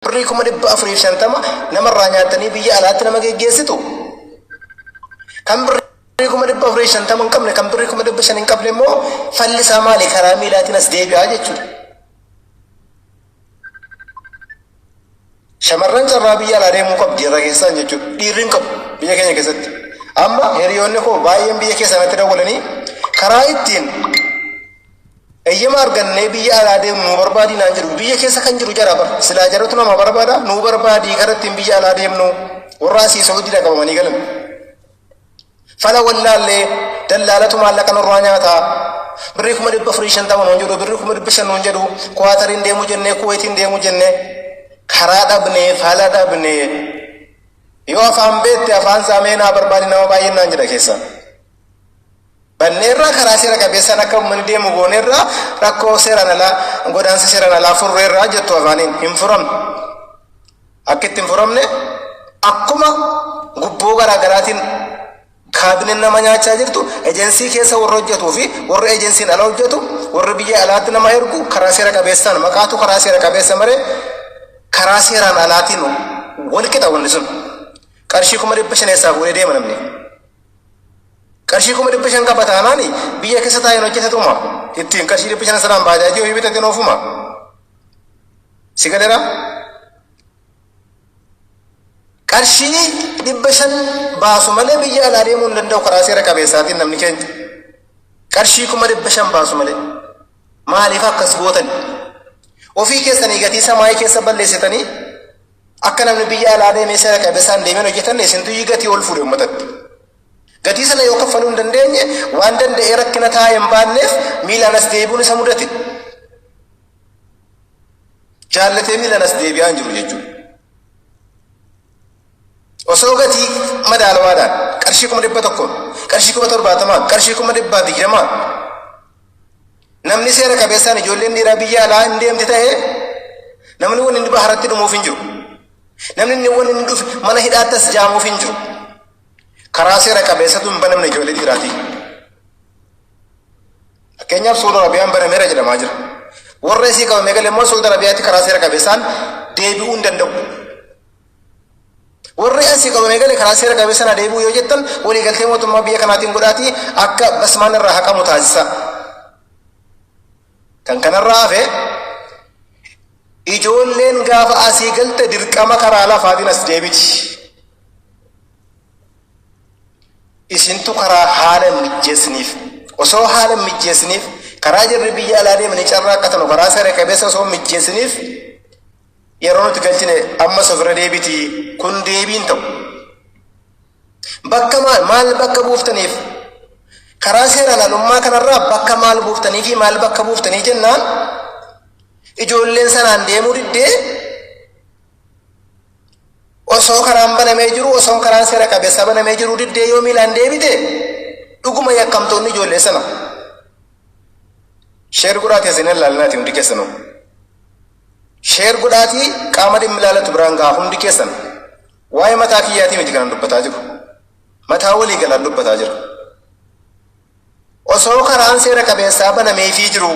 Birrii kuma dhibba afurii fi shantama namarraa nyaattanii biyya alaatti nama geggeessitu. Kan birrii kuma dhibba afurii fi shantama hin qabne kan birrii kuma dhibba shan hin qabne immoo falli isaa maali karaa miilaatiin as deebi'aa jechuudha. Shamarran carraa biyya alaa deemuu qabdi irra keessaan jechuudha. Dhiirri hin qabu biyya keenya keessatti. Amma hiriyoonni koo baay'een biyya keessaa natti dawwalanii karaa ittiin Eyyama argannee biyya alaa deemnu nuu barbaadii naan jedhu biyya keessa kan jiru jara bar silaa jaratu nama barbaada nuu barbaadii karaa ittiin biyya alaa deemnu warra asii Saawudiidha qabamanii galan. Fala wallaallee dallaalatu maallaqa nurraa nyaata birrii kuma dhibba afurii shantama nuun jedhu birrii kuma dhibba shan nuun jedhu kuwaatariin deemuu jennee kuweetiin deemuu jennee karaa dhabnee fala dhabnee yoo afaan beekte afaan saamee naa barbaadi nama baay'een naan jedha keessaa. banneerra karaa seera qabeessaan akka uummanni deemu gooneerra rakkoo seeraan alaa godaansa seeraan alaa furreerra jettu afaaniin hin furamne akka itti hin furamne akkuma gubboo garaa garaatiin kaabineen nama nyaachaa jirtu ejensii keessa warra hojjetuu fi warra ejensiin ala hojjetu warra biyya alaatti nama ergu karaa seera qabeessaan maqaatu karaa seera qabeessa maree karaa seeraan alaatiin wal qixa wanni sun qarshii kuma dhibba shan eessaa fuudhee deema namni. Qarshii kuma dhibba shan qaba taanaani biyya keessa taa'een hojjetatuma ittiin qarshii dhibba shan sanaan baajaajii ofii bitateen oofuma si galeera qarshii dhibba shan baasu malee biyya alaa deemuu hin danda'u karaa seera qabeessaatiin namni keenya qarshii kuma dhibba shan baasu malee maaliif akkas gootan ofii keessanii gatii samaayii keessa balleessitanii Akka namni biyya alaa deemee seera qabeessaan deemee hin hojjetanne isintu iyyuu gatii ol fuudhe uummatatti. Gatii sana yoo kaffaluu hin dandeenye waan danda'ee rakkina taa'ee hin baanneef miilaan as deebi'uun isa mudate. Jaallatee miilaan as deebi'aa hin jiru jechuudha. Osoo gatii madaalawaadhaan qarshii kuma dhibba tokkoon, qarshii kuma torbaatamaan, qarshii kuma dhibbaa digdamaan Namni seera qabeessaan ijoolleen dhiiraa biyya alaa hin deemti ta'e namni wanni inni baharatti dhumuuf hin jiru. Namni inni wanni inni dhufe mana hidhaattas jaamuuf hin jiru. Karaa seera qabeessatu hin banamne ijoollee dhiiraati. Fakkeenyaaf Suudi Arabiyaan banameera jedhamaa jira. Warra isii qabamee gale immoo Suudi Arabiyaatti karaa seera qabeessaan deebi'uu hin danda'u. Warri Asii qaban eegale karaa seera qabeessan haa deebi'u yoo jettan waliigaltee mootummaa biyya kanaatiin godhaatii akka basmaan irraa haqamu taasisaa. Kan kanarraa hafe ijoolleen gaafa asii galte dirqama karaa lafaatiin as deebiti. Isintu karaa haala hin mijjeessiniif. Osoo haala hin mijjeessiniif karaa jarri biyya alaa deemanii carraa akka tanu karaa seera qabeessa osoo hin mijjeessiniif Yeroo nuti galchine ammas ofirra deebiti kun deebiin ta'u. Bakka maal maal bakka buuftaniif karaa seeraan alummaa kanarraa bakka maal buuftanii fi maal bakka buuftanii jennaan ijoolleen sanaan deemuu diddee osoo karaan banamee jiru osoo karaan seera qabeessa banamee jiru diddee yoo miilaan deebite dhuguma yakkamtoonni ijoollee sana Sheer godhaatii asiin ilaalinaati hundi keessanuu. Sheer godhaatii qaama dhimmi ilaalatu biraan gahaa hundi keessan. Waa'ee mataa kiyyaatii miti kanan dubbataa jiru. Mataa walii galaan dubbataa jira. Osoo karaan seera qabeessaa banameefii jiru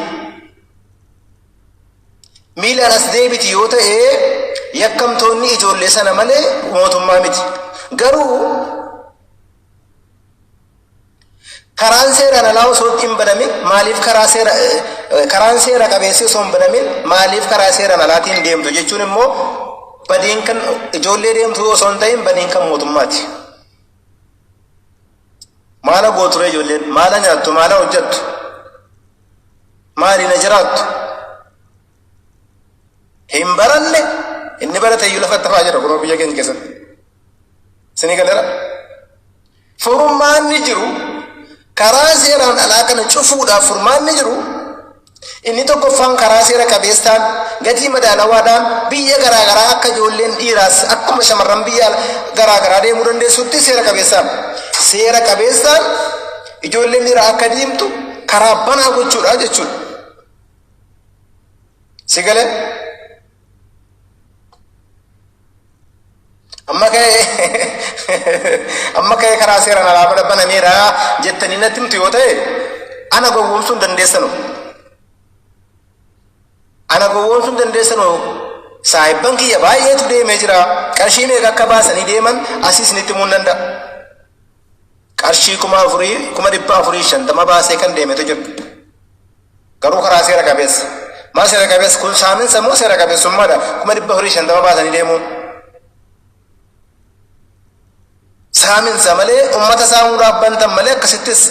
miilaan as deebiti yoo ta'e yakkamtoonni ijoollee sana malee mootummaa miti. Garuu Karaan seeraan alaa osoo itti hin banamin maaliif karaa seera eh, karaan seera qabeessi osoo hin banamin maaliif karaa seeraan alaatiin deemtu jechuun immoo badiin kan ijoollee deemtuu osoo hin ta'in badiin kan mootummaati. Maala gooture ijoolleen maala nyaattu maala hojjettu maali na jiraattu hin baranne inni barate iyyuu lafatti hafaa jira kunoo biyya keenya keessatti isinii galera furmaanni jiru karaa seeraan alaa kana cufuudhaaf furmaanni jiru inni tokkoffaan karaa seera qabeessaan gatii madaalawaadhaan biyya garaagaraa akka ijoolleen dhiiraas akkuma shamarran biyya garaagaraa deemuu dandeessutti seera qabeessaan seera qabeessaan ijoolleen dhiiraa akka deemtu karaa banaa gochuudha jechuudha. Si galee? Amma ka'ee amma ka'ee karaa seeraan alaa mana banameera jettanii natti himtu yoo ta'e ana gowwoomsuun dandeessanu. Ana gowwoomsuun dandeessanu saahibban kiyya baay'eetu deemee jira. Qarshii meeqa akka baasanii deeman asii isinitti himuu nan danda'a. qarshii kuma afurii kuma dhibba afurii shantama baasee kan deemetu jira. Garuu karaa seera qabeessa. Maa seera qabeessa kun saaminsa moo seera qabeessummaadha kuma dhibba afurii shantama baasanii deemuun. Saaminsa malee uummata saamuudhaaf bantan malee akkasittis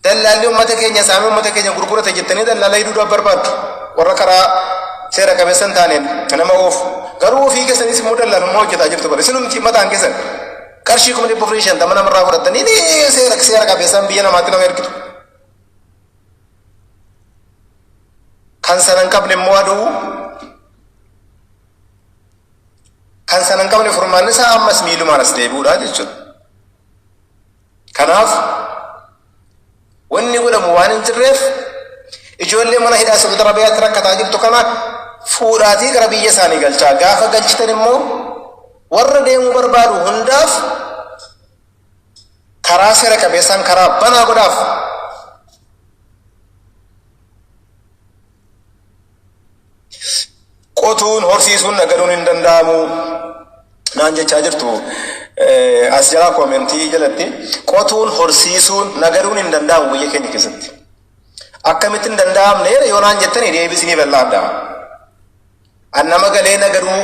Dallaalli ummata keenya saamee ummata keenya gurgurata jettanii dallaala hidhuudhaaf barbaaddu. Warra karaa seera qabeessa hin taaneen nama oofu. Garuu ofii keessaniis immoo dallaalummaa hojjetaa jirtu bara. Isinumti mataan keessan qarshii kuma dhibba afurii shantama namarraa fudhattanii ni seera seera qabeessaan biyya namaatti nama ergitu. Kan sana hin qabne immoo aduu kan sana hin qabne furmaanni isaa ammas miilumaan as deebi'uudha jechuudha. Kanaaf wanni godhamu waan hin jirreef ijoollee mana hidhaa Saudi Arabiyaatti rakkataa jirtu kana fuudhaatii gara biyya isaanii galchaa. Gaafa galchitan immoo warra deemuu barbaadu hundaaf karaa seera qabeessaan karaa banaa godhaaf. qotuun horsiisuun nagaduun hin danda'amu naan jechaa jirtu as jalaa koomentii jalatti qotuun horsiisuun nagaduun hin danda'amu biyya keenya keessatti akkamitti hin danda'amne yoo naan jettanii deebisiniif laadha an nama galee nagaduu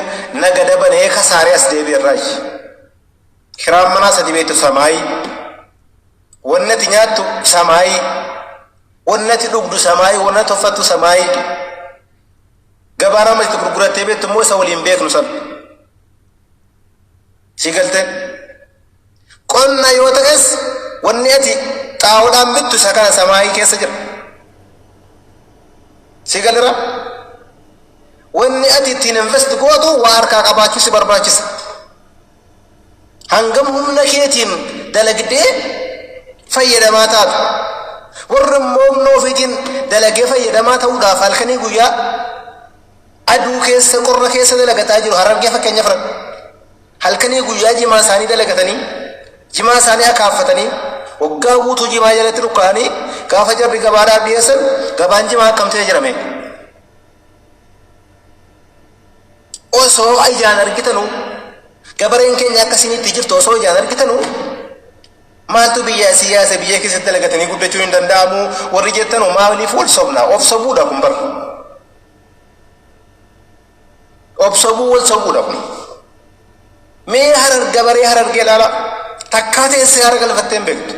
nagada banee kasaaree as deebi'erraa kiraan manaa sadi beektu samaayii Wonni ati nyaattu samaayii, wonni ati dhugdu samaayii, wonni ati uffattu samaayii jedhe. Gabaan amma itti gurgurattee beektu immoo isa waliin beeknu san. Sii galtee? Qonna yoo ta'es wanni ati xaa'oodhaan bittu isa kana samaayii keessa jira. Sii galera? Wanni ati ittiin invest gootu waa harkaa qabaachuu si barbaachisa. Hangam humna keetiin dalagdee fayyadamaa taata? Warri immoo humna ofiitiin dalagee fayyadamaa ta'uudhaaf halkanii guyyaa aduu keessa qorra keessa dalagataa jiru. Harargee fakkeenya fudhadhu. Halkanii guyyaa jimaa isaanii dalagatanii jimaa isaanii akaaffatanii waggaa guutuu jimaa jalatti dhukkaa'anii gaafa jarri gabaadhaaf dhiyeessan gabaan jimaa akkam ta'ee jirame. Osoo ijaan argitanu gabareen keenya akka isiniitti jirtu osoo ijaan argitanu maaltu biyya siyaasa biyya keessatti dalagatanii guddachuu hin danda'amu warri jettanu maaliif wal sobna of sobuudha kun bara of sobuu wal sobuudha kun mee harar gabaree harargee ilaala takkaa teessee hara galfattee hin beektu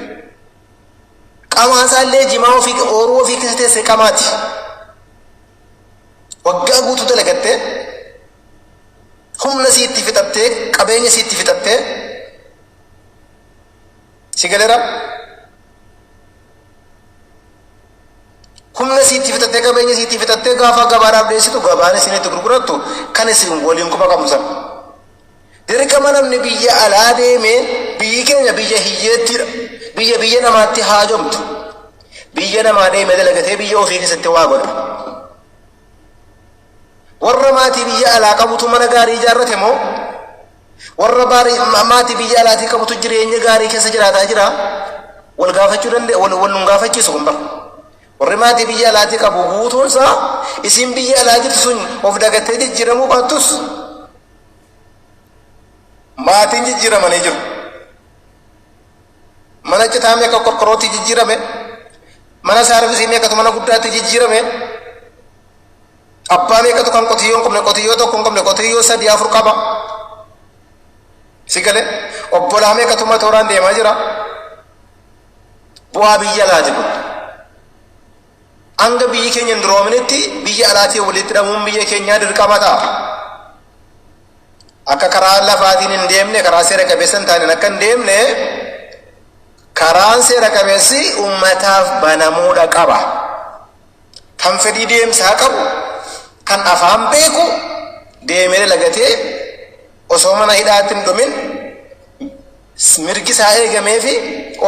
qamaa isaallee jimaa ofii ooruu ofii keessa teessee qamaati Waggaa guutuu dalagattee, humna sii itti fixattee, qabeenya sii itti fixattee, si galera? Humna sii itti fixattee, qabeenya sii itti fixattee gaafa gabaadhaaf dhiyeessitu gabaan isin itti gurgurattu kan isin waliin quba qabdu sana. Dirqama namni biyya alaa deemeen biyyi keenya biyya hiyyeettiidha. Biyya biyya namaatti haajomtu. Biyya namaa deemee dalagatee biyya ofii keessatti waa godha. Warra maatii biyya alaa qabutu mana gaarii ijaarrate moo warra baarii- ma- maatii biyya alaatii qabutu jireenya gaarii keessa jiraataa jira? Wal gaafachuu danda'e, wal wal nun gaafachiisu kun bara. Warri maatii biyya alaatii qabu guutuun isaa isiin biyya alaa jirtu sun of dagattee jijjiiramuu baattus maatiin jijjiiramanii jiru. Mana citaa meeqa qorqorrootti jijjiirame, mana saarvisii meeqatu mana guddaatti jijjiirame, abbaa meeqatu kan qotiyyoo hin qabne qotiyyoo tokko hin qabne qotiyyoo sadii afur qaba. Si galee obbolaa meeqatu matooraan deemaa jira. bu'aa biyya alaati kun. Hanga biyyi keenya hin duroominetti biyya alaatiin walitti hidhamuun biyya keenyaa dirqama ta'a. Akka karaa lafaatiin hin deemne, karaa seera qabeessa hin taaneen akka hin deemne, karaan seera qabeessi uummataaf banamuudha qaba. Kan fedhii deemsaa qabu, kan afaan beeku deemee lagatee osoo mana hidhaatti hin dhumin mirgi isaa eegamee fi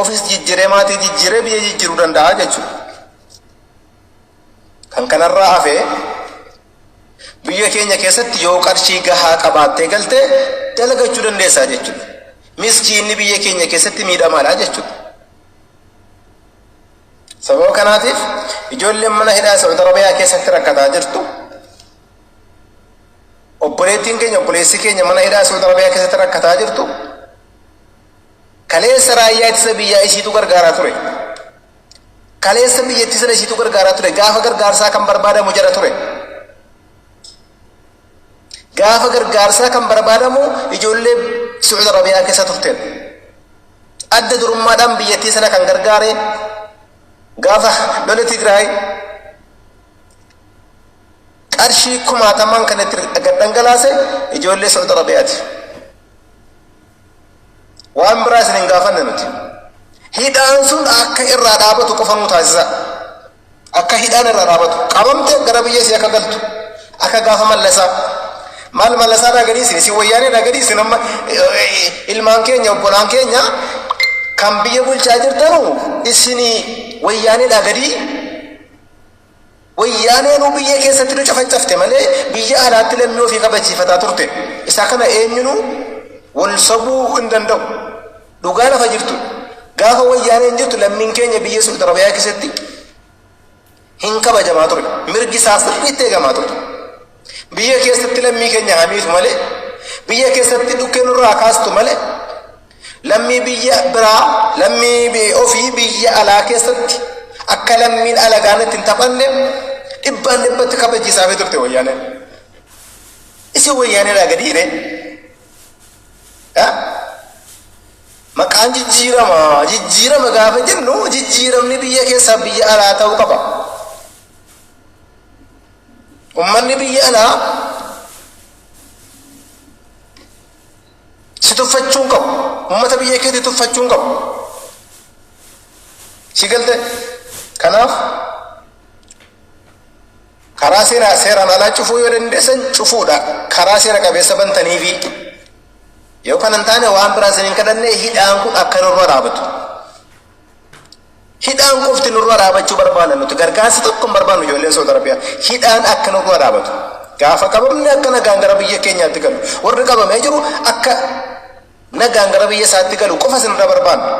ofis jijjiree maatii jijjiree biyya jijjiruu danda'a jechuudha. Kan kanarraa hafee biyya keenya keessatti yoo qarshii gahaa qabaattee galte dalagachuu dandeessaa jechuudha. Miskiinni biyya keenya keessatti miidhamaadha jechuudha. Sababa kanaatiif ijoolleen mana hidhaa Saudi Arabiyaa keessatti rakkataa jirtu. Obboleettiin keenya obboleessi keenya mana hidhaa Saudi Arabiyaa keessatti rakkataa jirtu kaleessa raayyaa ittisa biyyaa isiitu gargaaraa ture. Kaleessa biyyattii sana isiitu gargaaraa ture. Gaafa gargaarsaa kan barbaadamu jara ture. Gaafa gargaarsaa kan barbaadamu ijoollee Saudi Arabiyaa keessa turteen. Adda durummaadhaan biyyattii sana kan gargaare gaafa lola Tigraay qarshii kumaatamaan kan itti gad dhangalaase ijoollee Saudi Arabiyaati. Waan biraa isin hin gaafanne nuti. Hidhaan sun akka irraa dhaabatu qofa nu taasisa. Akka hidhaan irraa dhaabatu. Qabamte gara biyya isii akka galtu. Akka gaafa mallasaa. Maal mallasaa naa gadhiisin isin wayyaanee naa gadhiisin amma ilmaan keenya obbolaan keenya kan biyya bulchaa jirtanu isin wayyaanee naa gadii Wayyaanee nuu biyya keessatti nu cafacafte malee biyya alaatti lammii ofii kabachiifataa turte. Isa kana eenyunuu wal sobuu hin danda'u. Dhugaa lafa jirtu. Gaafa wayyaaneen jirtu lammiin keenya biyya Suudi Arabiyaa keessatti hin kabajamaa ture. Mirgi isaa sirriitti eegamaa ture. Biyya keessatti lammii keenya haa miitu malee, biyya keessatti dhukkee nurraa haa kaastu malee, lammii biyya biraa, lammii ofii biyya alaa keessatti akka lammiin alagaan itti hin taphanne dhibbaan dhibbatti kabachiisaa fi turte wayyaaneen. Isin wayyaaneedhaa gadi hiree. Maqaan jijjiirama, jijjiirama gaafa jennu jijjiiramni biyya keessaa biyya alaa ta'uu qaba. Ummanni biyya alaa si tuffachuu hin qabu. Ummata biyya keetii tuffachuu hin qabu. Si galte kanaaf karaa seeraa seeraan alaa cufuu yoo dandeessan cufuudha. Karaa seera qabeessa bantaniifi yoo kana hin taane waan biraa isin hin kadhanne hidhaan kun akka nurra dhaabatu. Hidhaan qofti nurra dhaabachuu barbaanna nuti gargaarsa tokko hin barbaannu ijoolleen Saudi Arabiyaa hidhaan akka nurra dhaabatu gaafa qabamne akka nagaan gara biyya keenyaatti galu warri qabamee jiru akka nagaan gara biyya isaatti galu qofa isinirra barbaanna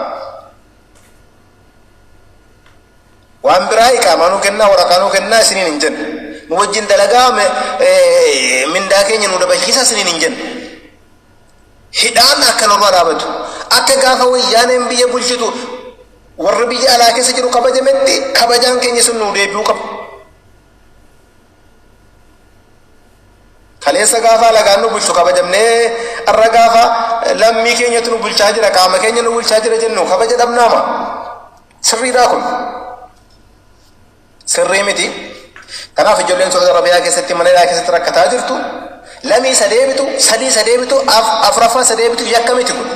waan biraa iqaamaa nuu kennaa waraqaa nuu kennaa isiniin hin jennu nu wajjin dalagaa mindaa keenya nu dabalchiisa isiniin hin jennu Hidhaan akka nurraa dhaabatu. Akka gaafa wayyaaneen biyya bulchitu warra biyya alaa keessa jiru kabajametti kabajaan keenya sun nuu deebi'uu qaba. Kaleessa gaafa alagaan nu bulchu kabajamnee har'a gaafa lammii keenyatu nu bulchaa jira qaama keenya nu bulchaa jira jennu kabaja dhabnaama. Sirriidhaa kun. Sirrii miti. Kanaaf ijoolleen Saudi Arabiyaa keessatti mana hidhaa keessatti rakkataa jirtu. Lamii isa deebitu, sadii isa deebitu, af- afraffaa isa deebitu yakka miti kun.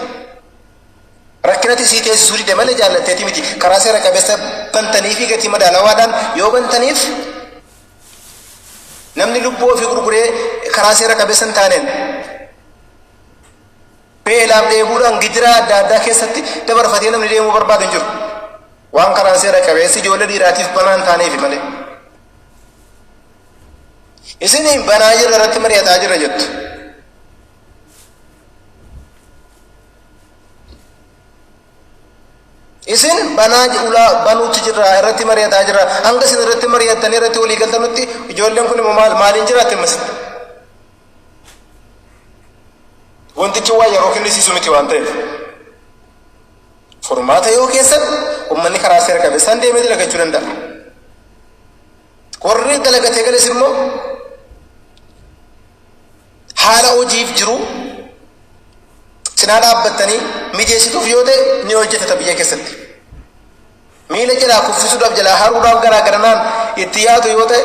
Rakkinatti sii teessisuu dide malee jaallatteeti miti. Karaa seera qabeessa bantanii fi gatii madaalawaadhaan yoo bantaniif namni lubbuu ofii gurguree karaa seera qabeessa hin taaneen Beelaaf dheebuudhaan gidiraa adda addaa keessatti dabarfatee namni deemuu barbaadu hin jiru. Waan karaan seera qabeessi ijoollee dhiiraatiif banaa hin taaneefi malee. Isiniin banaa jirra irratti mari'ataa jirra jettu. Isin banaa ulaa banuutti jirra irratti mari'ataa jirra. Hanga isin irratti mari'attanii irratti walii galtanutti ijoolleen kun immoo maal maaliin jiraatti ammas? Wantichi waan yeroo kennisiisu miti waan ta'eef. Furmaata yoo keessan uummanni karaa seera qabeessaan deemee dalagachuu danda'a. Warri dalagatee gales immoo haala hojiif jiru cinaa dhaabbattanii mijeessituuf yoo ta'e ni hojjetata biyya keessatti. Miila jalaa kuffisuudhaaf jalaa haruudhaaf garaa garanaan itti yaadu yoo ta'e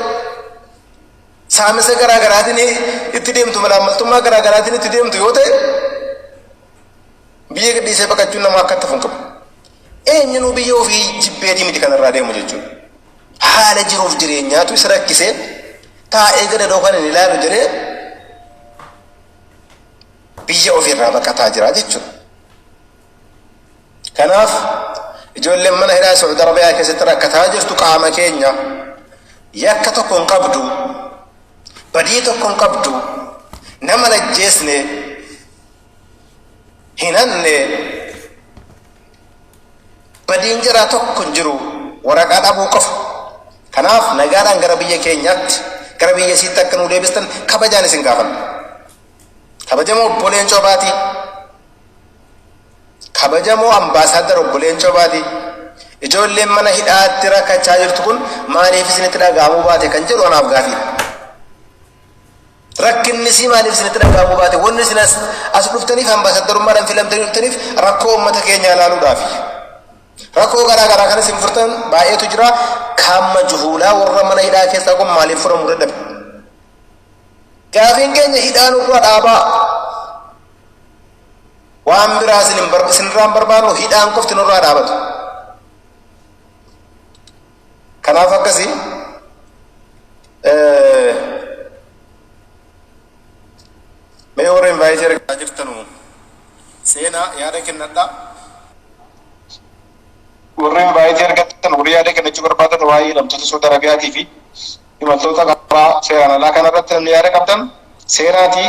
saamisa garaa garaatiin itti deemtu malaammaltummaa garaa garaatiin itti deemtu yoo ta'e biyya gadhiisee baqachuun nama akka itti funqabu. Eenyinuu biyya ofii jibbeetii miti kanarraa deemu jechuudha. Haala jiruuf jireenyaatu isa rakkisee taa'ee gadadoo kan hin ilaalu jedhee biyya ofiirraa baqataa jira jechuudha. Kanaaf ijoolleen mana hidhaa Saudi Arabiyaa keessatti rakkataa jirtu qaama keenya yakka tokko hin qabdu badii tokko hin qabdu nama lajjeesne hin hanne badiin jiraa tokko hin jiru waraqaa dhabuu qofa. Kanaaf nagaadhaan gara biyya keenyaatti gara biyya isiitti akka nu deebistan kabajaan isin gaafanna. Kabajamoo obboleen coobaatii Kabajamoo Ambaasaaddar Obbo Leencoo Baatii, Ijoolleen mana hidhaatti rakkachaa jirtu kun maaliif isinitti dhaga'amuu baate kan jedhu anaaf gaafiidha. Rakkinni isii maaliif isinitti dhaga'amuu baate? Wanni isin as, as dhuftaniif ambaasaddarummaadhaan filamtanii dhuftaniif rakkoo uummata keenyaa ilaaluudhaafi. Rakkoo garaa garaa kan isin furtan baay'eetu jira. Kaamma juhuulaa warra mana hidhaa keessaa kun maaliif furamuu dadhabe? Gaafiin keenya hidhaa nurraa dhaabaa. Waan biraa isin hin bar- isinirraa hin barbaannu hidhaan qofti nurraa dhaabatu. Kanaaf akkasi eh, mee warra invaayitii argaa jirtanu seenaa yaada kennadha. Warri invaayitii argatan warri yaada kennachuu barbaadan waa'ee hidhamtoota Saudi Arabiyaatii fi imaltoota karaa seeraan alaa kanarratti namni yaada qabdan seenaatii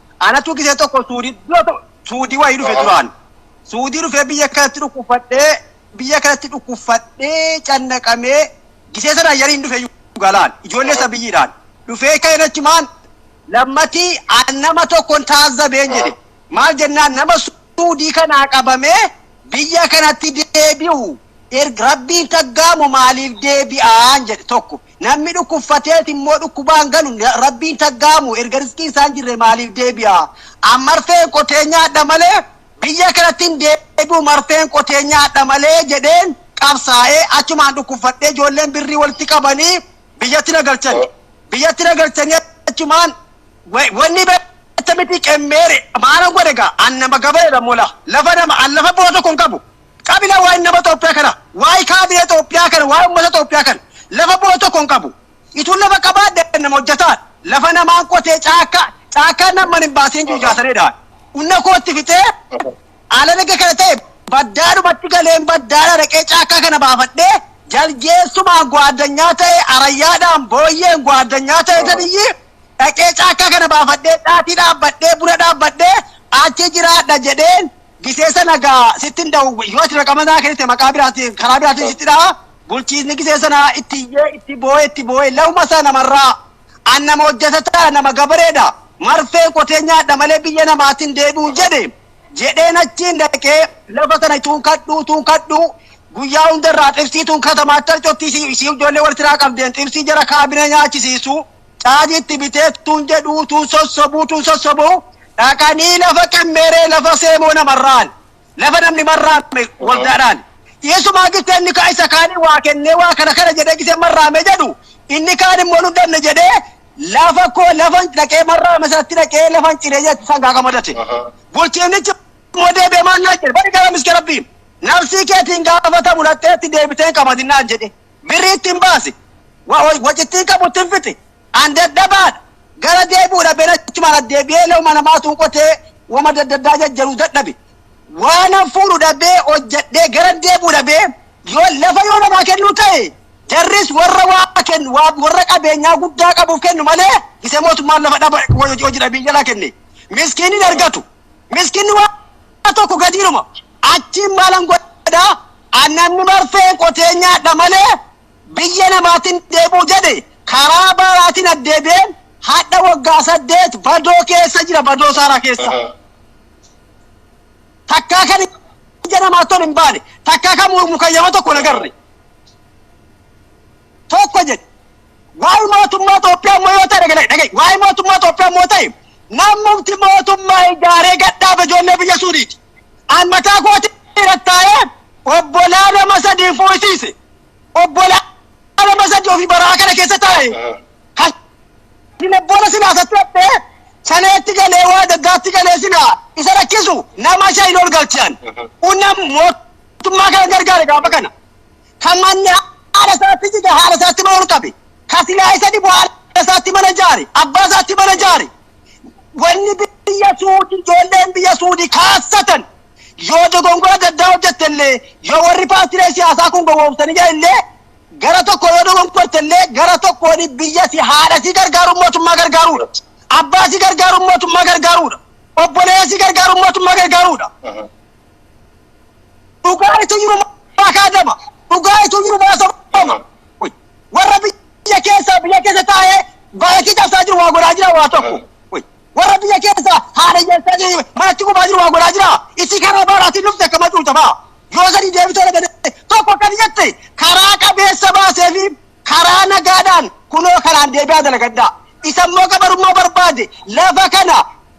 Anatu gisee tokko suudii dura to- suudii wayii dhufe Aha. duraan. Suudii dhufee biyya kanatti dhukkubfadhee biyya kanatti dhukkubfadhee cannaqamee gisee sana ayyaniin dhufe galaan ijoollee Aha. isa biyyiidhaan dhufee ka'een achumaan lammatii an nama tokkon taazzabeen Aha. jedhe maal jennaan nama suudii kanaa qabamee biyya kanatti deebi'u erga rabbiin taggaamu maaliif deebi'aan jedhe tokko Namni dhukkuffateeti immoo dhukkubaan galu Rabbiin taggaamu erga rizqiin isaan jirre maaliif deebi'a? An marfeen qotee nyaadha malee biyya kanatti hin deebi'u marfeen qotee nyaadha malee jedheen qabsaa'ee achumaan dhukkuffadhee ijoolleen birrii walitti qabanii biyyatti na galchan. Biyyatti na galchanii achumaan wanni beekta miti qemmeere maana godhe gaa an nama gabareedha mola lafa nama an lafa boo tokko hin qabu. Kabila waa'en nama Xoophiyaa kana, waa'ee kaadiree Xoophiyaa kana, waa'ee ummata Xoophiyaa kana lafa bu'e tokko hin qabu. Ituun lafa qabaadhe nama hojjataan, lafa namaan qotee caakkaa, caakkaa namman hin baasiin jiru ijaasaree dhahan. Unna koo itti fixee alan ega kana ta'e baddaadhumatti galeen baddaadha dhaqee caakkaa kana baafadhee jaljeessumaan gwaaddanyaa ta'e arayyaadhaan booyyeen gwaaddanyaa ta'e taniyyii dhaqee caakkaa kana baafadhee dhaatii dhaabbadhee buna dhaabbadhee achi jiraadha jedheen Gisee sana egaa sittin dawwii yoo ati raqama naa kennite maqaa biraatiin karaa biraatiin sitti dha'a bulchiisni gisee sana itti iyyee itti boo'ee itti boo'ee lafuma isaa namarraa an nama hojjetataa nama gabareedha marfee qotee nyaadha malee biyya namaatiin deebi'u jedhe jedheen achiin dhaqee lafa sana ituun kadhuu tuun kadhuu guyyaa hundarraa xibsii tuun katamaatti harcottii siif ijoollee waltiraa qabdeen xibsii jara kaabinee nyaachisiisuu Caajitti bitee tun jedhuu tun sossobuu tun sossobuu dhaqanii lafa qemmeeree lafa seemoo namarraan lafa namni marraame waldaadhaan dhiyeessumaa gitte inni kaa isa kaanii waa kennee waa kana kana jedhee gisee marraame jedhu inni kaan immoo nu danne jedhee lafa koo lafan dhaqee marraame isaatti dhaqee lafan ciree jedhe sangaa kamadate bulchiinnichi immoo deebi'ee maal naan jedhe bari gara miskee rabbii nafsii keetiin gaafatamu dhaqxeetti deebiteen qamadinaan jedhe Birrii ittiin baasi. Wa, wa, waci ittiin qabu ittiin fixi. An dadhabaadha. Gara deebi'uudha been achumaan as deebi'ee looma namaatuun qotee wama daddaddaa jajjaru dadhabe. Waanan fuudhu dhabee hojjedhee gara deebi'u dhabee yoo lafa yoo namaa kennuu ta'e jarris warra waa kennu waa warra qabeenyaa guddaa qabuuf kennu malee isa mootummaan lafa dhaba hojii hojii dhabii jalaa kenne. Miskiinni hin argatu. Miskiinni waa tokko gadiidhuma. Achiin maalan godhaa? An namni marfee qotee nyaadha malee biyya namaatti hin deebi'u jedhe karaa baaraatiin addeebi'een hadha waggaa saddeet badoo keessa jira badoo saaraa keessa. Takkaa kan ija namaatti ol hin baane takkaa kan mukayyama tokko hin agarre. Tokko jedhe waa'ee mootummaa Itoophiyaa immoo yoo ta'e dhaga'i waa'ee mootummaa Itoophiyaa immoo ta'e namumti mootummaa ijaaree gadhaabe ijoollee biyya suuriiti. An mataa kootii irratti taa'ee obbolaa nama sadii fuusiise. Obbolaa nama sadii ofii baraa kana keessa taa'e. Kan hin obbola silaa isatti hattee saneetti galee waa daddaatti galee silaa isa rakkisu nama shan ol galchan. Unna mootummaa kana gargaare gaafa kana. Kan manni haala isaatti jige haala isaatti mana ol qabe. Kan silaa isa dhibu haala isaatti mana jaare abbaa isaatti mana jaare. wanni biyya suudi ijoolleen biyya suudi kaassatan yoo dogongora adda addaa hojjette illee yoo warri paartilee siyaasaa kun gowwoomsanii jiran illee gara tokko yoo dogongorte illee gara tokkoon biyya si haadha si gargaaruun mootummaa gargaaruudha. Abbaa si gargaaruun mootummaa gargaaruudha. Obboleessa si gargaaruun mootummaa gargaaruudha. dhugaa itu jiru maa kaadama dhugaa itu jiru maa sobama warra biyya keessaa biyya keessa taa'ee baay'ee cabsaa jiru waa godhaa jira waa tokko warra biyya keessaa haala keessaa jiru manatti gubaa jiru waa godhaa jira isii karaa baaraatiin dhufte akka macuuta fa'a yoo sadi deebitee dhagate tokko akkani jette karaa qabeessa baasee fi Karaa nagaadhaan kunoo kanaan deebi'aa dalagadhaa. Isa immoo gabarummaa barbaade lafa kana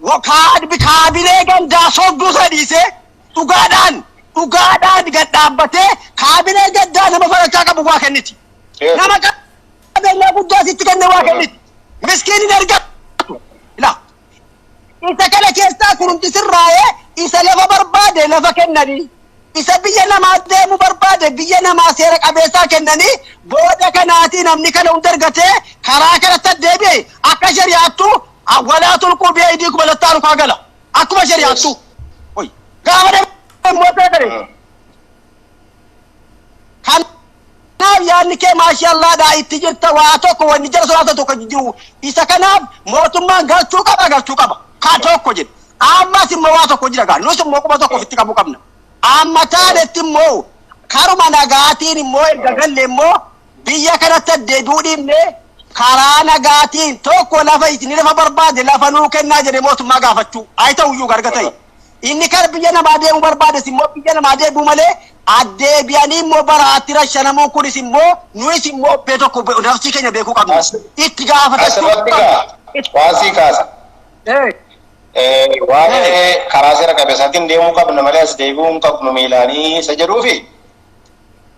wa- kaad- kaabinee gandaa sobduu sana dhiisee dhugaadhaan dhugaadhaan gad dhaabbatee kaabinee gaddaa nama farachaa qabu waa kenniti. Yes. Nama qabeenyaa guddaa sitti kenne waa Dhugaa. kenniti. Miskiin hin argatu. Ilaa. Isa kana keessaa kurumti sirraa'e isa lafa barbaade lafa kennanii isa biyya namaa deemu barbaade biyya namaa seera qabeessaa kennanii booda kanaatii namni kana hunda argatee karaa kanatti addeebi'e akka shari'aattuu awwalaa tulquu beeydii kuma lattaa rukaa gala akkuma shari'aattuu gaafa deemu immoo ta'e kan Kanaaf yaadni kee maashaallaadha itti jirta waa tokko wanni jara sodaatu tokko hin jiru isa kanaaf mootummaan galchuu qaba galchuu qaba ka tokko jedhe ammas immoo waa tokko jira gaa nus immoo quba tokko ofitti qabuu qabna amma taanetti immoo karuma nagaatiin immoo erga galle immoo biyya kanatti addeebi'uu dhiibne karaa nagaatiin tokko lafa isin lafa barbaade lafa nuu kennaa jedhe mootummaa gaafachuu ay ta'uyyuu garga ta'e Inni kara biyya namaa deemuu barbaades immoo biyya namaa deebi'uu malee addeebi'anii immoo baraatti rashanamuun kunis immoo nuyis immoo obbee tokko be- nafsii keenya beekuu qabna. As- Itti gaafatachuu Asirratti qabna. gaa Itti- waan sii kaasa. Eh, Eh, Waa'ee karaa seera qabeessaatiin deemuu qabna malee as deebi'uu hin qabnu miilaanii isa jedhuufi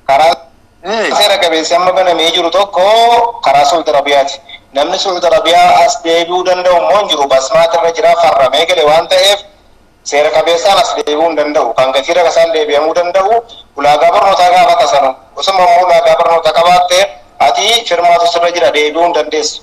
Karaa seera qabeessi amma banamee jiru tokko karaa Su'ud Arabiyaati. Namni Su'ud Arabiyaa as deebi'uu danda'u immoo hin jiru. Basmaat irra jira, farramee gale waan ta'eef seera qabeessaan as deebi'uu hin danda'u. Kan gatii rakasaan deebi'amuu danda'u ulaagaa barnootaa gaafata sanu. Osuma immoo ulaagaa barnootaa qabaatte ati firmaatu sirra jira deebi'uu hin dandeessu.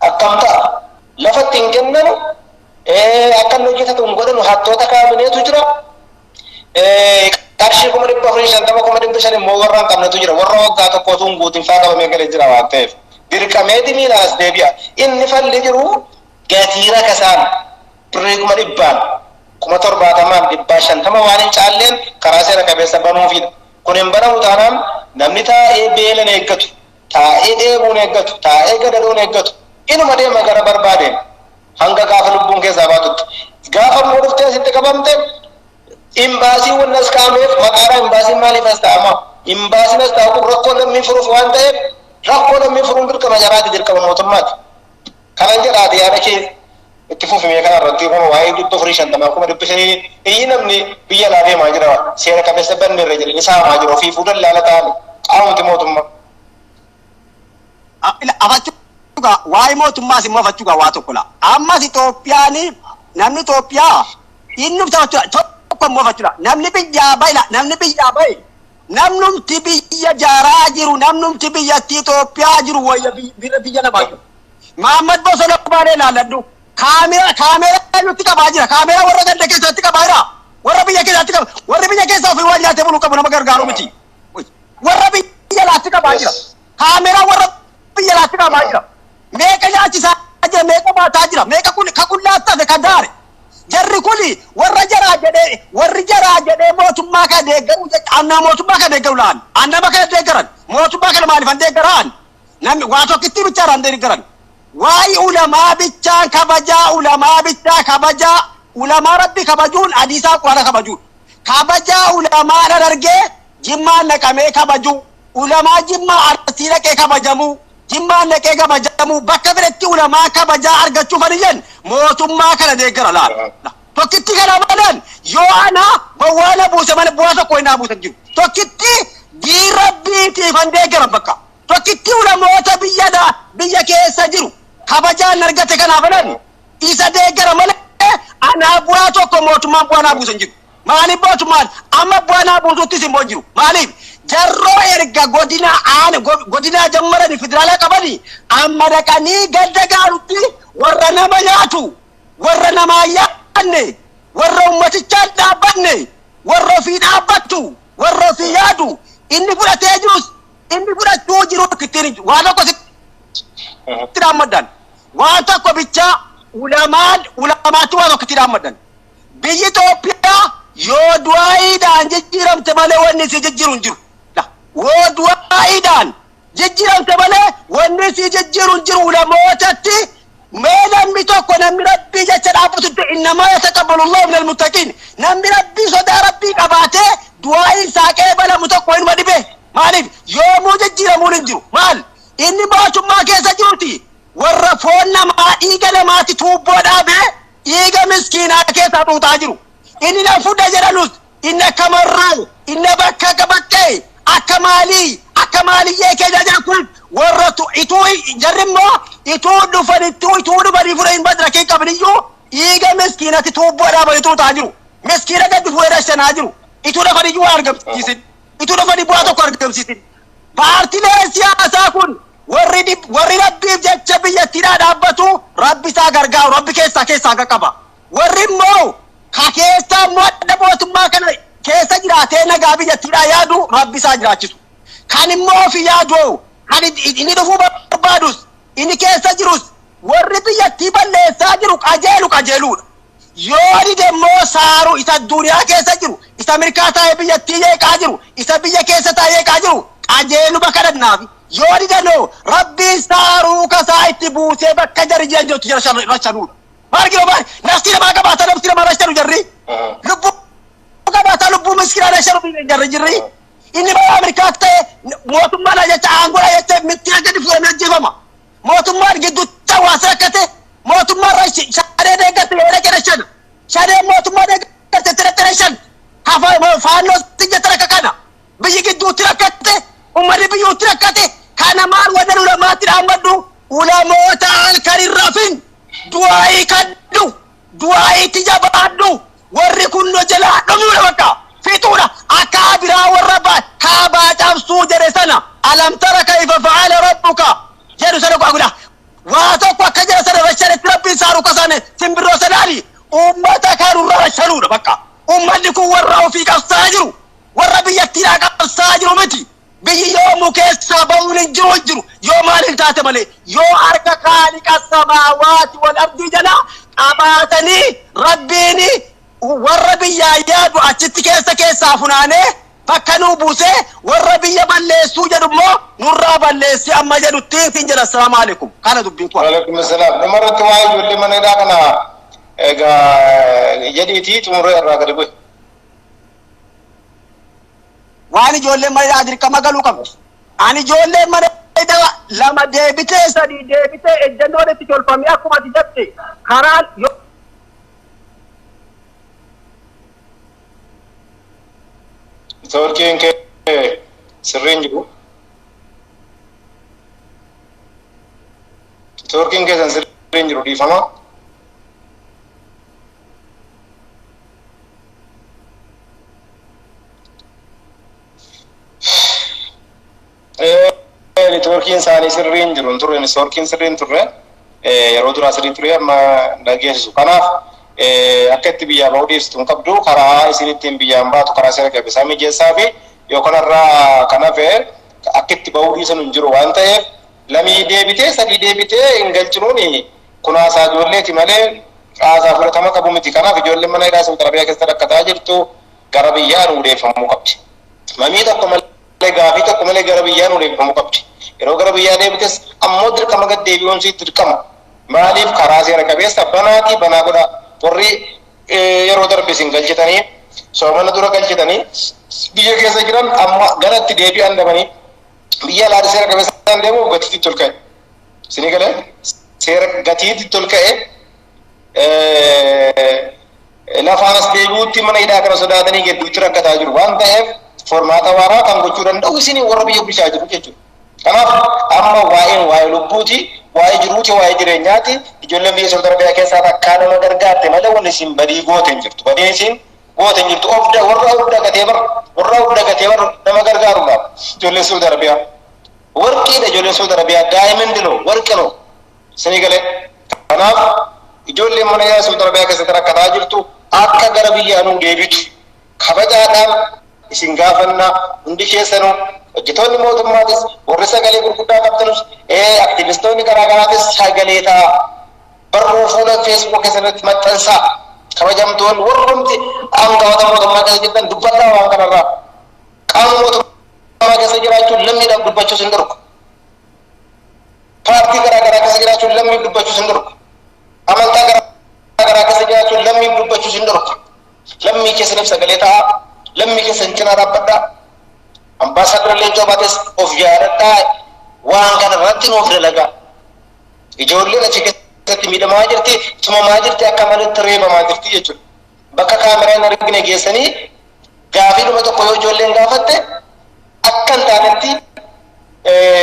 Akkamta. Lafa itti hin kennanu, akka inni hojjetatu hin godhanu, hattoota kaabineetu jira, qarshii kuma dhibba afurii fi shantama kuma dhibba shan immoo warra hin qabnetu jira, warra waggaa tokko utuu hin guutin faa qabamee galee jira waan ta'eef dirqameeti miilaan as deebi'a. Inni falli jiru gatii rakasaan birrii kuma dhibbaan, kuma torbaatamaan, dhibbaa shantama waan hin caalleen karaa seera qabeessa banuufiidha. Kun hin banamu taanaan namni taa'ee beelan eeggatu, Taa'ee dheebuu hin eeggatu, taa'ee gadadoo hin eeggatu. Inuma deema gara barbaadeen hanga gaafa lubbuun keessaa baatutti. Gaafa immoo dhuftee asitti qabamte imbaasiin wanni as kaa'ameef maqaadhaan imbaasiin maaliif as taa'ama? Imbaasiin as taa'u kun rakkoo lammii furuuf waan ta'eef rakkoo lammii furuun dirqama jaraati, dirqama mootummaati. Kanan jedha ati yaada kee itti fufi mee kana irratti kun waa'ee dhibba afurii shantamaa kuma dhibbi shanii iyyi namni biyya alaa deemaa jira seera qabeessa banne irra jedhanii saamaa jira ofiifuu dallaala ta'an qaamumti mootummaa. Afachuga waa'ee mootummaas immoo afachuga waa tokko laa ammas Itoophiyaan namni Itoophiyaa inni taphachudha tokko immoo afachuudha namni biyyaa bahe namni biyyaa bahe Namnumti biyya jaaraa jiru, namnumti biyyatti Itoophiyaa jiru wayya biy- biyya biyya namaa jiru. Maammad Bosona Baalee ilaalladhu. Kaamera kaameraa nutti qabaa jira. Kaameraa warra ganda keessatti qabaa jira. Warra biyya keessatti qaba. Warri biyya keessa ofii waan nyaatee buluu qabu nama gargaaru miti. Warra biyya laatti qabaa jira. Yes. Kaameraa warra biyya laatti qabaa jira. Meeqa nyaachisaa jira, meeqa baataa jira, meeqa kun ka qullaa tafe ka daare. Jarri kun warra jaraa jedhee warri jaraa jedhee mootummaa kana deeggaruu jecha annaa mootummaa kana deeggaru la'an an nama kana deeggaran mootummaa kana maaliif an deeggara an namni waa tokkittii bichaa irraa an deeggaran waa'ee ulamaa bichaan kabajaa ulamaa bichaa kabajaa ulamaa rabbi kabajuun hadiisaa quraana kabajuudha. Kabajaa Ulamaa Harargee Jimmaan dhaqamee kabajuu, Ulamaa Jimmaa Arsii dhaqee kabajamuu, Jimmaan dhaqee kabajamuu bakka fedhetti Ulamaa kabajaa argachuu kan iyyan mootummaa kana deeggara laata. Tokkitti kana malan yoo ana bowwaa na buuse malee bu'aa tokko hin dhaabuuta hin jiru. Tokkitti diin rabbiitiifan deeggaran bakka. Tokkitti ulamoota biyya da- biyya keessa jiru kabajaan argate kanaaf jedhan isa deeggara malee anaa bu'aa tokko mootummaan bu'aa naa buusa hin jiru. Maaliif mootummaan amma bu'aa naa buusuttis immoo hin jiru. Maaliif jarroo erga godina aana go- godinaa jammaranii federaalaa qabanii amma dhaqanii gadda gaarutti warra nama nyaatu warra namaa hin yaadne warra ummatichaa hin dhaabbanne warra ofii dhaabbattu warra ofii yaadu inni fudhatee jirus inni fudhachuu jiru ittiin hin jiru. Waa tokko sitti dhaammaddaan. Waan tokko bichaa ulamaan ulamaatti waan tokkotti dhaammadhan. Biyyi Itoophiyaa yoo du'aa'iidhaan jijjiiramte malee wanni isii jijjiiru hin jiru. La, Yoo du'aa'iidhaan jijjiiramte malee wanni isii jijjiiru hin jiru ulamootatti mee namni tokko namni rabbii jecha dhaabbatutti innamaa yataqabbalullahu minal muttaqiin namni rabbii sodaa rabbii qabaatee du'aa'iin isaa qeebalamu tokko hinuma dhibee maaliif yoomuu jijjiiramuun hin jiru maal inni mootummaa keessa jiruti Warra foon namaa dhiiga namaatti tuubboo dhaabee dhiiga miskiinaa keessaa xuuxaa jiru. Inni na fudha jedhanus inni akka marroo, inni na bakka qabattee, akka maalii, akka maaliyyee keenya jedha kun warra tu, ituu jarri immoo ituu dhufanittuu ituu dhufanii fudha hin badra hin qabniyyuu dhiiga miskiinatti tuubboo dhaabanii xuuxaa jiru. Miskiina gadi fuudhee rashanaa jiru. Ituu dhafaniyyuu waa argamsiisin. Ituu dhafanii bu'aa tokko argamsiisin. Paartileen siyaasaa kun warri dhib, warri Rabbiif jecha biyyattiidhaa dhaabbatu Rabbi isaa gargaaru, Rabbi keessaa keessaa qaqqaba. Warri immoo ka keessaa immoo adda mootummaa kana keessa jiraatee nagaa biyyattiidhaa yaadu Rabbi isaa jiraachisu. Kan immoo ofi yaadoo kan it- it- inni dhufuu barbaadus inni keessa jirus warri biyyattii balleessaa jiru qajeelu qajeeluudha. Yoo dide immoo saaru isa adduniyaa keessa jiru, isa mirkaa taa'ee biyyattii jeeqaa jiru, isa biyya keessa taa'ee jeeqaa jiru qajeeluma kadhannaafi. Yoo dide noo Rabbiin saaruu kasaa itti buusee bakka jarri jiran jirtu jara shan rashanuudha. Maal giro maal naftii namaa qabaata naftii namaa rashanu jarri. Lubbuu qabaata lubbuu miskinaa rashanu dhiigan jarri jirri. Inni balaa mirkaa ta'e mootummaadha jecha aangoodha jecha mittiyaa gadi fuudhamee ajjeefama. mootummaan gidduutti hawaasa rakkate mootummaan rashi- shanee deeggarte yoo dhaqe rashan shanee mootummaa deeggarte itti dhaqe rashan hafa faannoo sijjata rakka kana biyyi gidduutti rakkate ummanni biyyuutti rakkate kana maal wadan ulamaatti dhaammadhu ulamoota halkan hin rafin du'aayii kadhu Du'aa'iitti jabaadhu warri kun nu jalaa dhumuudha bakka. Fixuudha. Akkaa biraa warra ba, kaabaa cabsuu jedhe sana Alam tara kayfa fa'ala rabbuka jedhu sana gaa godha. Waa tokko akka jara sana rashanetti rabbiin isaa rukasane simbirroo sanaani ummata kan nurra rashanuudha bakka. Ummanni kun warra ofii qabsaa'aa jiru. Warra biyyattiidhaa qabsaa'aa jiru miti. Biyyi yoo mukeessaa ba'uun hin jiru hin jiru, yoo maal hin taate malee, yoo harka Khaaliqa Samaawaati wal Ardii jalaa qabaatanii Rabbiin warra biyyaa yaadu achitti keessa keessaa funaanee bakka nuu buusee warra biyya balleessuu jedhu immoo nurraa balleessi amma jedhutti siin jedha. Assalaamu Aleekum. Kana dubbiin koo. Walekum Assalam. Dhuma irratti waa'ee ijoollee mana hidhaa kana egaa jedhiitii xumuree irraa gadi bu'i. waan ijoolleen mana hidhaa dirqama galuu qabdi. Ani ijoolleen mana hidhaa lama deebitee sadii deebitee ejjannoon itti tolfamee akkuma ati jette karaan yoo Networkiin kee sirriin jiru. Networkiin keessan sirriin jiru dhiifama. Networkiin isaanii sirrii hin jiru hin turre networkiin sirrii hin turre yeroo duraa sirrii ture amma dhageessisu kanaaf akka itti biyyaa ba'uu dhiistu hin qabdu karaa isin ittiin biyyaan baatu karaa seera qabeessaa mijeessaa fi yoo kanarraa kan hafe akka itti ba'uu dhiisan hin jiru waan ta'eef lamii deebitee sadii deebitee hin galchinuuni Kunaasaa ijoolleeti malee caasaa fudhatama qabu miti. Kanaaf ijoolleen mana hidhaa Sa'ud Arabiyaa keessa rakkataa jirtu gara biyyaa nuu deebifamuu qabdi. Mamii tokko malee, gaafii tokko malee gara biyyaa nuu deebifamuu qabdi. Yeroo gara biyyaa deebites ammoo dirqama gad deebi'uun isii dirqama. Maaliif karaa seera qabeessa banaati banaa godhaa. Warri yeroo darbe isin galchitanii soomana dura galchitanii biyya keessa jiran amma gara itti deebi'an dhabanii biyya alaa seera qabeessaan deemuuf gatiitti itti ol ka'e. Isinii galee seera gatiitti tol ka'e lafaan as deebi'uutti mana hidhaa kana sodaatanii gidduutti rakkataa jiru waan ta'eef formaata waaraa kan gochuu danda'u isinii warra biyya bulchaa jiru jechuudha. Kanaaf amma waa'een waa'ee lubbuuti, waa'ee jiruuti, waa'ee jireenyaati. Ijoolleen biyya Saudi Arabiyaa keessaa takkaa nama gargaarte malee wanni isin badii goote hin jirtu. Badii isin goote hin jirtu. Ofda warra ofda gatee bar warra ofda gatee bar nama gargaaruudhaaf ijoollee Saudi Arabiyaa. Warqii dha ijoolleen Saudi Arabia diamond no warqi no isinii galee kanaaf ijoolleen mana yaa Saudi Arabia keessatti rakkataa jirtu akka gara biyyaa nuu deebitu kabajaadhaan isin gaafanna hundi keessanu hojjetoonni mootummaatis warri sagalee gurguddaa qabtanus ee aktivistoonni garaa garaatis sagalee ta'a barruu fuula feesbuuk keessatti maxxansaa kabajamtoonni warrumti aangawoota mootummaa keessa jirtan dubbadhaa waan kanarraa Qaama mootummaa keessa jiraachuun lammiidhaaf dubbachuus hin dhorku. Paartii garaa garaa keessa jiraachuun lammiif dubbachuus hin dhorku. Amantaa garaa garaa keessa jiraachuun lammiif dubbachuus hin dhorku. Lammii keessaniif sagalee ta'aa, lammii keessan cinaa dhaabbadhaa. Ambaasaaddara Leencoo Baatees of yaadadhaa waan kana irratti nuuf dalagaa. Ijoolleen achi keessatti miidhamaa jirti, tumamaa jirti, akka maletti reebamaa jirti jechuudha. bakka kaameraa hin argine geessanii gaafiidhuma tokko yoo ijoolleen gaafatte akka hin taanetti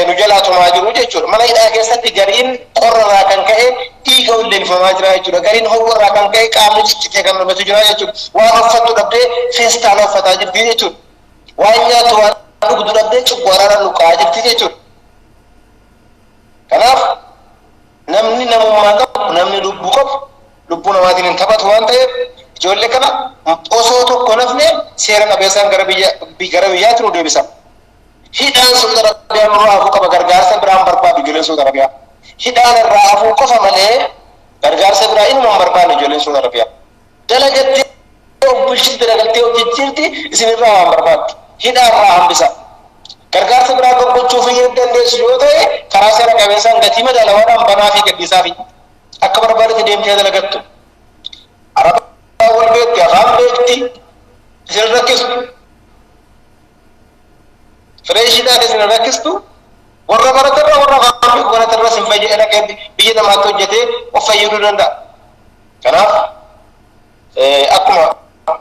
nu jalaa tumaa jiru jechuudha. Mana hidhaa keessatti gariin qorra irraa kan ka'e dhiiga ulleeffamaa jira jechuudha. Gariin ho'a irraa kan ka'e qaamni ciccitee kan mul'atu jira jechuudha. Waan uffattu dhabdee feestaala uffataa jirti jechuudha. Waan nyaattu waan dhugdu dhabdee cuggaaraadhaan luqqa'aa jirti jechuudha. Kanaaf namni namummaa qabu namni lubbuu qabu lubbuu namaatiin hin taphatu waan ta'eef ijoollee kana osoo tokko hin hafne seera qabeessaan gara biyya gara biyyaatti nu deebisan. Hidhaan Saudi Arabiyaa nurraa hafuu qaba gargaarsa biraan barbaadu ijoolleen Saudi Arabiyaa. Hidhaan irraa hafuu qofa malee gargaarsa biraa inuma hin barbaanne ijoolleen Saudi Arabiyaa. Dalagattee of bulchiti dalagaltee of jijjiirti isinirraa waan barbaaddu. Hidhaa irraa hambisa. Gargaarsa biraa gaggochuuf hin dandeessu yoo ta'e karaa seera qabeessaan gatii madaalawaadhaan banaa fi gadhiisaa fi Akka barbaadetti deemtee dalagattu. Arabaa wal beekti, afaan beekti, isin rakkistu. Fireeshiidhaan isin rakkistu. Warra baratarra warra afaan beeku baratarra isin fayyada dhaqee biyya namaatti hojjetee of fayyaduu danda'a. Kanaaf akkuma